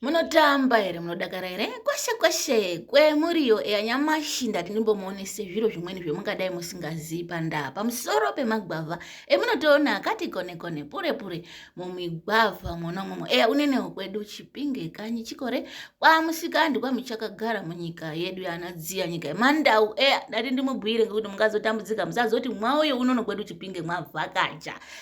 munotamba here munodakara here kwashe kwashe kwemuriyo eya nyamashi ndati ndimbomuonese zviro zvimweni zvemungadai musingazivi pandaa pamusoro pemagwavha emunotoona akati kone kone pure pure mumigwavha mwona umwomwo eya unenewo kwedu chipinge kanyi chikore kwamusikandi kwamuchakagara munyika yedu yanadziya nyika yemandau eya ndati ndimubhuire ngekuti mungazotambudzika musazoti mwauyo unono kwedu chipinge mwavhakacha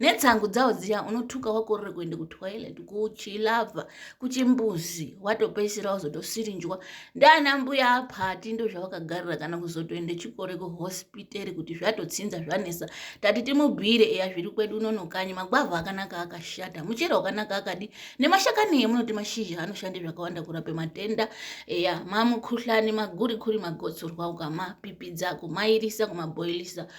netshangu dzawo dziya unotuka wakorere kuenda kutoilet kuchilavha kuchimbuzi watopedzisira wazotosirinjwa ndiana mbuya apati ndo zvavakagarira kana kuzotoenda chikore kuhospitari kuti zvatotsinza zvanesa tati timubhire eya zviri kwedu unono kanyi magwavha akanaka akashata muchero wakanaka akadi nemashakani emunoti mashizha anoshanda zvakawanda kurape matenda eya mamukuhlani magurikuri magotsorwa ukamapipidza kumairisa kumabhoilisa